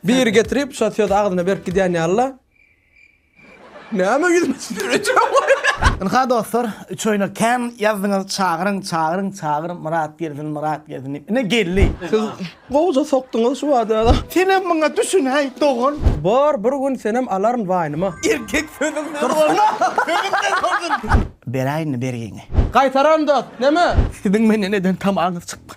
Biri getirip şo sözi agzyna berip gidýän ýalyla. Näme ýüzüme tüsdürýäň. Ynha dostlar üçoýna kän ýazdyňyz çagyryň çagyryň çagyr Myrat gelsin Myrat gelsin diýip ine geldi. Siz gowja sokduňyz şu wada. Senem muňa düşün heý dogan. Bor bir gün senem alaryn waýnyma. Erkek sözüň dursun sözüň de dursun. Beräýinmi bergiňi. Gaýtaran dost neme. Siziň menden eden tamaňyz çykmaz.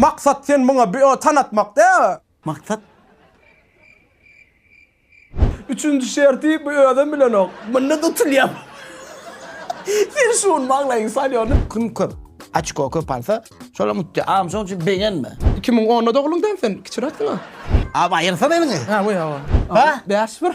Maksat sen muňa bi o tan atmak dä. Maksat. Üçünji şerti bu özem bilenok. Munda dutulýam. Sen şuny maňlaýyň salýon. Kim köp açko köp alsa şolam utdy agam şoň üçin begenme. Iki müň onda dogluň däl sen kiçiräksiň a. Aw aýyrsan eliňi. Aw aw. Ba. Bäş bir.